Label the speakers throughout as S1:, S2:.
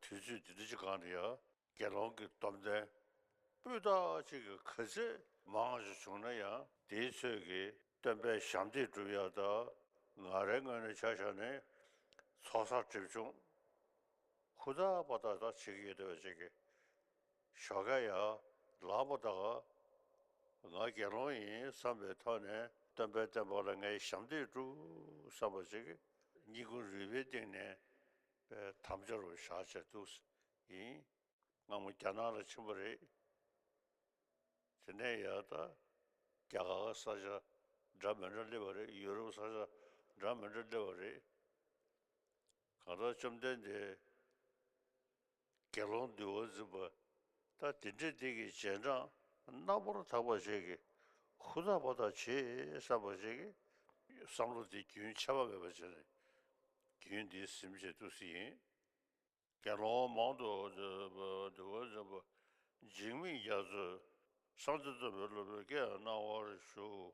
S1: དུས་ཚོད་འདི་འདྲ་ཅི་གང་རེད་ཡ། དགེ་སློང་གི་སྡོམ་ལྡན། སྤུས་དག་ཅིག་གི་གར་ཚད་མང་ཞིག་བྱུང་ན་ཡང། དེའི་ཚོད་ཀྱིས་སྟོན་པའི་ཞབས་འདེགས་བསྒྲུབ་ཡག་ད། ང་རའི་སྔོན་ནས་ཆ་བཞག་ནས། ཚོགས་བསགས་སྒྲིབ་སྦྱོང་ཧུར་ཐག་པ་ཏག་ཏག་བྱེད་ཀྱི་ཡོད་དེ་བས་ཅིག། ཞོགས་ཀ་ཡ། ལགས་པོ་ཏཱ། ང་དགེ་སློང་ཡིན་བསམ་པའི་ཐོག་ནས་སྟོན་པའི་བསྟན་པ་ལ་ངས་ཞབས་འདེགས་བསྒྲུབས་བསམ་པ་ཅིག་སྙིང་ཁུང་རུས་པའི་གཏིང་ནས་དམ་འཆའ་རུ་བཞག་བྱས་འདུག་ཡིན་སྔ་མོ་རྒྱ་ནག་ལ་ཕྱིན་པ་རེད། དེ་ནས་ཡ། རྒྱ་གར་ས་ཆ་འདྲ་མི་འདྲ་སླེབས་པ་རེད་ཡུ་རོབ་ས་ཆ་འདྲ་མི་འདྲ་སླེབས་པ་རེད། གང་ལྟར་བཅོམ་ལྡན་འདས། དགེ་སློང་འདུལ་བ་འཛིན་པ་ད་དེ་འདྲས་འདི་ཀྱི་རྗེས་འབྲང་རྣམ་པར་དག་པ་ཅིག་གིས་ཧུར་ཐག་པ་དག་བྱེད་བསམ་པ་ཅིག་གིས་བསམ་བློ་འདི་རྒྱུན་ཆད་པ་མེད་པར་བྱས་ནས་རྒྱུན་འདི་ཟིན་བྱེད་དུ་སྲིད་ཡིན། དགེ་སློང་མང་དུ་འདུལ་བ་འཛིན་པ་འཇིགས་མེད་རྒྱ་མཚོས་གསང་སྟེ་རྩོམ་པའི་སློབ་དཔོན་སྐད་གནང་བར་ཞུ།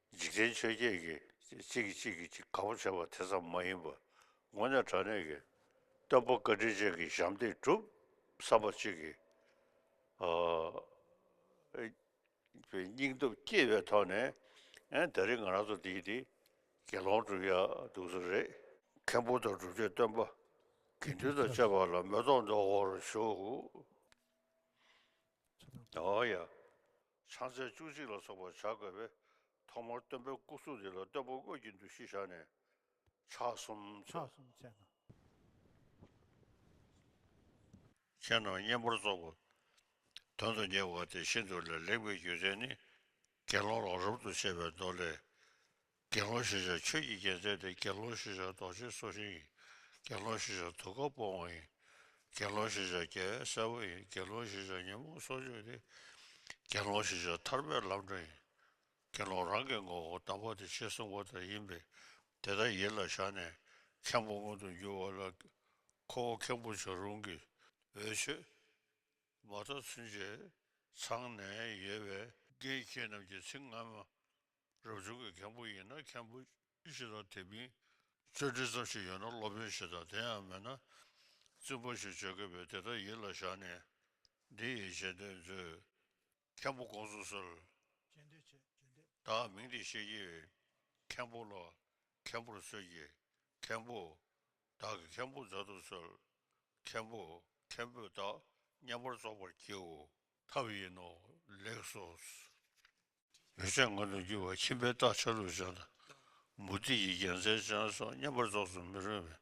S1: འཇིག་རྟེན་ཆོས་བརྒྱད་ཀྱི་གཅིག་གིས་གཅིག་གིས་གང་བ་བྱེད་པ་དེ་ཙམ་མ་ཡིན་པར་ངོ་ནས་དྲང་གནས་ཀྱི་སྟོན་པ་བཀའ་དྲིན་ཅན་གྱི་ཞབས་འདེགས་གྲུབ་བསམ་པ་གཅིག་གིས་སྙིང་སྟོབས་བསྐྱེད་པའི་ཐོག་ནས་ད་རིང་ང་རང་ཚོ་འདིའི་དེ་དགེ་སློང་གྲུབ་ཡ་འདུག་ཚོད་རེད། མཁན་པོ་དང་སྒྲུབ་མཆོད་སྟོན་པ་དགེ་འདུན་དང་བཅས་པ་ལ་མོས་སྟོང་ལྡོག་འོང་རོགས་ཞུ། ཕྱག་འཚལ་བཅུ་གཅིག་ལ་སོགས་པར་བྱ་དགོས་པས་ཐོག་མར་སྟོན་པའི་སྐུ་གཟུགས་འདི་ལ་སྟོན་པ་དངོས་ཀྱི་འདུ་ཤེས་བཞག་ནས་ཕྱག་གསུམ་
S2: མཆོད།
S1: ཁྱེད་རྣམས་བསྙེན་པར་རྫོགས་པ་དོན་དུ་གཉེར་བ་དེ་ཤིན་ཏུ་ལས་ལེགས་པའི་རྒྱུ་མཚན་ནི་དགེ་སློང་ལ་རབ་ཏུ་བྱེད་པའི་མདོ་ལས། དགེ་སློང་ཤེས་བྱ་ཆོས་ཀྱི་རྒྱལ་མཛད་དེ་དགེ་སློང་ཤེས་བྱ་རྡོ་རྗེ་སོ་ཤིང་ཡིན། དགེ་སློང་ཤེས་བྱ་དུག་ཁ་སྤོང་བ་ཡིན། དགེ་སློང་ཤེས་བྱ་རྒྱལ་བའི་སྲས་པོ་ཡིན་དགེ་སློང་ཤེས་བྱ་ཉོན་མོངས་སྲོག་གཅོད་དེ། དགེ་སློང་ཤེས་བྱ་ཐར་པའི་ལམ་སྒྲོན་ཡིན། དགེ་སློང་རང་གི་ངོ་བོ་དམ་པ་དེ་ཕྱི་གསུང་པ་དག་ཡིན་པས་དེ་དག་ཡིད་ལ་བཞག་ནས་མཁན་པོ་མངོན་དུ་འགྱུར་བ་ལ་ཁོ་བོ་མཁན་པོ་བྱ་རུང་གི། འོད་ཆོས། མ་རྟོགས་ཚུན་ཆད་ཚང་ནས་ཡོད་པས། དགེ་བཤེས་རྣམས་ཀྱི་ཚིག་སྔ་མ་རབ་བྱུང་གི་མཁན་པོ་ཡིན་ན་མཁན་པོ་གཞི་དང་དེ་མིན་རྩོད་འགྲེལ་ཙམ་ཞིག་ཡོད་ན་སློབ་དཔོན་ཞེས་དང་དེ་ཡང་མེད་ན་བཙུན་པ་ཞེས་བརྗོད་དགོས་པས་དེ་དག་ཡིད་ལ་བཞག་ནས་འདི་ཡི་གཞན་དོན་མཛོད། མཁན་པོ་དགོངས་སུ་གསོལ། གཞན་དོན་
S2: ཆེ་བརྗོད་འདོད། བདག་མིང་
S1: འདི་ཤེས་ཀྱི། མཁན་པོ་ལ། མཁན་པོར་གསོལ་གྱི། མཁན་པོ། བདག་གི་མཁན་པོ་མཛད་དུ་གསོལ། མཁན་པོ། མཁན་པོས་བདག་མཉམ་པར་རྫོགས་པར་བགྱིའོ། ཐབས་ཡིན་ནོ། ལེགས་སོ། ཡོ་བྱད་མངོན་དུ་འགྱུར་བ་ཁྱིམ་པའི་རྟགས་ཆ་ལུགས་བྱང་དང། མུ་ཏིག་གི་རྒྱན་མཚན་བྱང་སོགས་བསྙེན་པར་རྫོགས་སུ་མི་རུང་བས།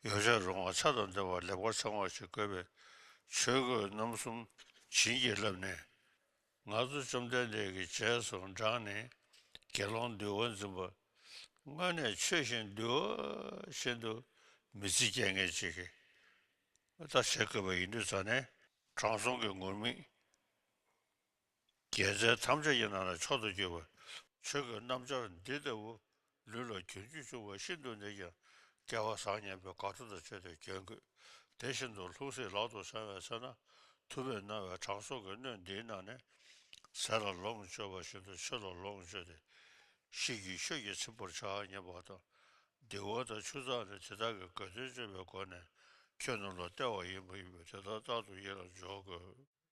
S1: ཡོ་བྱད་རོ་མངར་ཆ་དང་ལྡན་བ་ལེགས་པར་ཚང་བར་ཅིག་བསྐོལ་བའི་ཆོས་གོས་རྣམ་གསུམ་བྱིན་གྱིས་བརླབས་ནས། ང་ཚོ་བཅོམ་ལྡན་འདས་ཀྱི་རྗེས་སུ་འབྲངས་ནས་དགེ་སློང་འདུལ་བ་འཛིན་པ། དངོས་གནས་ཆོས་བཞིན་འདུལ་བ་བཞིན་དུ་མི་ཚེ་བསྐྱལ་ངེས་ཅིག་གི་རྟགས་བྱེད་དགོས་པ་ཡིན་དུས་རྩ་ནས། དྲང་སྲོང་གི་ངུར་སྨྲིག། རྒྱལ་མཚན་ཐམས་ཅད་ཀྱི་ནང་ནས་མཆོག་ཏུ་གྱུར་པའི་ཆོས་ཀྱི་རྣམ་སྦྱར་འདི་ལྟ་བུ་ལུས་ལ་གྱོན་རྒྱུ་བྱུང་བ་ཤིན་ཏུ་ནས་ཀྱང་སྐལ་བ་བཟང་སྙམ་པའི་དགའ་སྤྲོ་དང་བཅས་ཏེ་གྱོན་དགོས་དེ་བཞིན་དུ་ལྷུང་བཟེད་ལག་ཏུ་བཟང་བའི་ཚེ་ན་དུ་བའི་སྣང་བའི་གྲངས་གསོག་གི་སྣོད་འདིའི་ནང་ནས་ཟས་ལ་ལོངས་སྤྱོད་པ་བཞིན་དུ་ཆོས་ལ་ལོངས་སྤྱོད་དེ་ཤིས་ཀྱི་ཤོས་ཀྱིས་ཚིམ་པར་བྱ་སྙམ་པ་དང། སྡིག་བ་དང་ཆུ་གཙང་ནི་དེ་དག་གི་དགའ་སྟོན་སྤྱོད་པའི་སྒོ་ནས་ཁྱོད་རྣམས་ལ་སྟེར་བ་ཡིན་པ་ཡིན་པས་དེ་དག་རྟག་ཏུ་ཡིད་ལ་འཇོག་དགོས།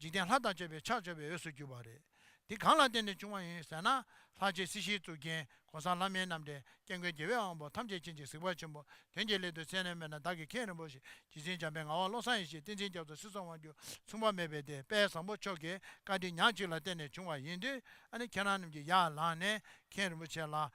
S2: འཇིག་རྟེན་ལྷ་དང་བཅས་པའི་ཕྱག་བྱ་བའི་འོས་སུ་གྱུར་པ་རེད། དེ་གང་ལ་བརྟེན་ནས་བྱུང་བ་ཡིན་ཟེར་ན། ལྷ་རྗེ་སྲིད་ཞིའི་གཙུག་རྒྱན་གོང་ས་ལྷ་མིའི་རྣམ་འདྲེན་སྐྱེ་མགོན་རྒྱལ་བའི་དབང་པོ་ཐམས་ཅད་མཁྱེན་ཅིག་གཟིགས་པ་ཆེན་པོ་དོན་གྱི་སླད་དུ་མཚན་ནས་སྨྲས་ན་བདག་གིས་མཁན་རིན་པོ་ཆེ་བྱིན་ཟིན་འཇམ་པའི་ངག་དབང་བློ་བཟང་ཡེ་ཤེས་བསྟན་འཛིན་རྒྱ་མཚོ་སྲིད་སྲོང་དབང་རྒྱུད་མཚུངས་པ་མེད་པའི་དད་པས་བཟང་པོ་མཆོག་གི་བཀའ་དྲིན་ཉག་གཅིག་ལ་བརྟེན་ནས་བྱུང་བ་ཡིན་དུས་ཨ་ནི་ཁྱེད་རང་རྣམས་ཀྱིས་ཡར་ལངས་ནས་མཁན་རིན་པོ་ཆེ་ལ